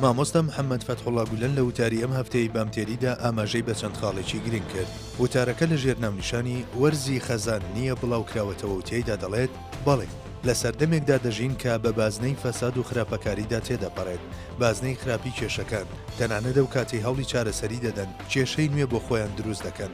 مامۆستا محەممەد فەتحوڵا گولەن لە وتاری ئەم هەفتەی بامتێریدا ئاماژەی بە چەند خاڵێکی گرنگ کرد وتارەکە لە ژێر ناونیشانی وەرزی خەزان نییە بڵاوکراوەتەوە و تێیدا دەڵێت بەڵێ لە سەردەمێکدا دەژین کە بە بازنەی فەساد و خراپەکاریدا تێدەپەڕێت بازنەی خراپی کێشەکان تەنانەت ئەو کاتی هەوڵی چارەسەری دەدەن کێشەی نوێ بۆ خۆیان دروست دەکەن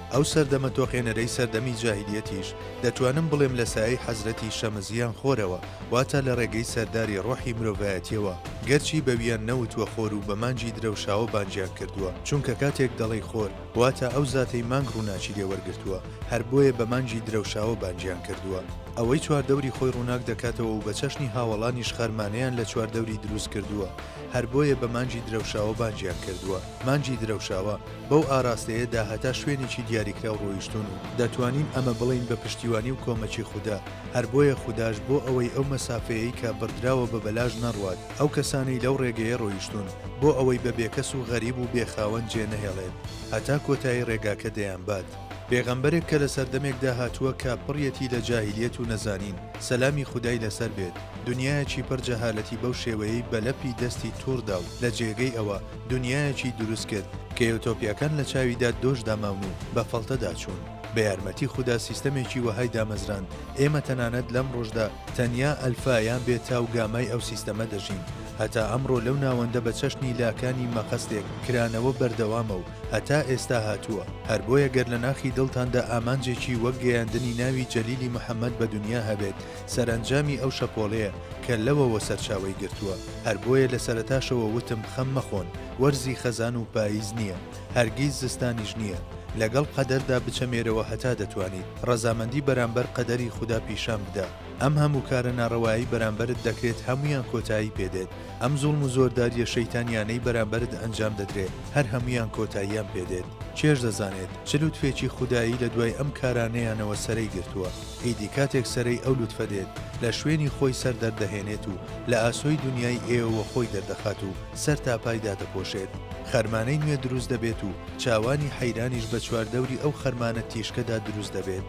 ئەو سەردەمە تۆقێنەرەی سەردەمی جاهیلیەتیش دەتوانم بڵێم لە سایەی حەزرەتی شەمس یان خۆرەوە واتە لە ڕێگەی سەرداری ڕۆحی مرۆڤایەتیەوە گەرچی بەویان نەوتوە خۆر و بە مانگی درەوشاوە بانگیان کردوە چونکە کاتێک دەڵێی خۆر واتە ئەو زاتەی مانگ ڕوناکی لێ وەرگرتوە هەر بۆیە بە مانگی درەوشاوە بانگیان کردوە ئەوەی چواردەوری خۆی ڕوناک دەکاتەوە و بە چەشنی هاوەڵانیش خەرمانەیان لە چواردەوری دروست کردوە هەر بۆیە بە مانگی درەوشاوە بانگیان کردوە مانگی درەوشاوە بەو ئاراستەیە دا هەتا شوێنێکی دیاریکراو ڕۆیشتوون و دەتوانین ئەمە بڵێین بە پشتیوانی و کۆمەکی خودا، هەر بۆیە خوداش بۆ ئەوەی ئەو مەسافەیەی کە بڕدراوە بە بەلاش نەڕوات، ئەو کەسانەی لەو ڕێگەیە ڕۆیشتوون بۆ ئەوەی بە بێکەس و غەریب و بێ خاوەن جێ نەهێڵێت هەتا کۆتایی ڕێگاکە دەیانبات. پێغەمبەرێک کە لە سەردەمێکدا هاتووە کە پڕیەتی لە جاهیلیەت و نەزانین، سەلامی خودای لەسەر بێت، دنیایەکی پڕ جەهالەتی بەو شێوەیەی بە لەپی دەستی توڕ دا و لە جێگەی ئەوە، دونیایەکی دروست کرد کە یۆتۆپیاکان لە چاویدا دۆش داماون و بە فەڵتەدا چوون. بە یارمەتی خودا سیستەمێکی وەهای دامەزراند، ئێمە تەنانەت لەم ڕۆژدا تەنیا ئەلفا یان بێتا و گامای ئەو سیستەمە دەژین. هەتا ئەمڕۆ لەو ناوەندە بە چەشنی لاکانی مەقەستێک کرانەوە بەردەوامە و هەتا ئێستا هاتووە. هەر بۆیە گەر لە ناخی دڵتاندا ئامانجێکی وەک گەیاندنی ناوی جەلیلی محەمەد بە دونیا هەبێت، سەرئەنجامی ئەو شەپۆڵەیە کە لەوەوە سەرچاوەی گرتووە، هەر بۆیە لە سەرەتاشەوە وتم خەم مەخۆن، وەرزی خەزان و پاییز نییە، هەرگیز زستانیش نییە، لەگەڵ قەدەردا بچەمێرەوە هەتا دەتوانیت، ڕەزامەندی بەرامبەر قەدەری خودا پیشان بدە، ئەم هەموو کارە ناڕەوایەی بەرامبەرت دەکرێت هەموویان کۆتایی پێ دێت، ئەم زوڵم و زۆردارییە شەیتانییانەی بەرامبەرت ئەنجام دەدرێت هەر هەموویان کۆتاییان پێ دێت، کێش دەزانێت چ لوتفێکی خودایی لە دوای ئەم کارانەیانەوە سەرەی گرتووە؟ ئیدی کاتێک سەرەی ئەو لوتفە دێت، لە شوێنی خۆی سەر دەردەهێنێت و لە ئاسۆی دونیای ئێوەوە خۆی دەردەخات و سەر تا پای دادەپۆشێت، خەرمانەی نوێ دروست دەبێت و چاوانی حەیرانیش بە چواردەوری ئەو خەرمانە تیشکەدا دروست دەبێت.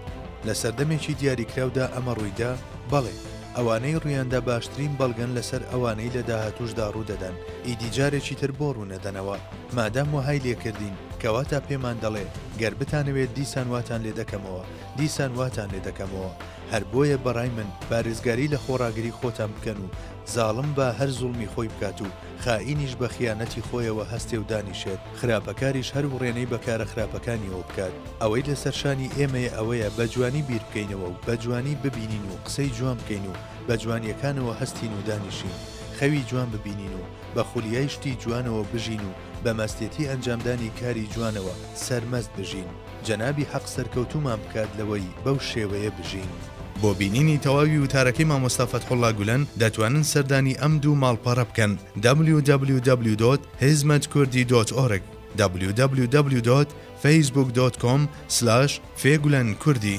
لە سەردەمێکی دیاریکراودا ئەمە ڕوویدا؟ بەڵێ، ئەوانەی ڕوویاندا باشترین بەڵگەن لەسەر ئەوانەی لە داهاتووشدا ڕوودەدەن، ئیدی جارێکی تر بۆ ڕوونەدەنەوە؟ مادام وەهای لێکردین، کەواتە پێمان دەڵێ، گەر بتانەوێت دیسان واتان لێ دەکەمەوە، دیسان واتان لێ دەکەمەوە، هەر بۆیە بە ڕای من پارێزگاری لە خۆڕاگری خۆتان بکەن و زاڵم با هەر زوڵمی خۆی بکات و خائینیش بە خیانەتی خۆیەوە هەستێ و دانیشێت، خراپەکاریش هەر وڕێنەی بە کارە خراپەکانیەوە بکات، ئەوەی لە سەر شانی ئێمەیە ئەوەیە بە جوانی بیر بکەینەوە و بە جوانی ببینین و قسەی جوان بکەین و بە جوانیەکانەوە هەستین و دانیشین خەوی جوان ببینین و بە خولیای شتی جوانەوە بژین و بە مەستێتی ئەنجامدانی کاری جوانەوە سەرمەست بژین. جەنابی حەق سەرکەوتوومان بکات لەوەی بەو شێوەیە بژین. بۆ بینینی تەواوی وتارەکەی مامۆستا فەتحوڵا گولەن دەتوانن سەردانی ئەم دوو ماڵپەڕە بکەن www.hizmetkurdî.org www.facebook.com/fegulankurdî.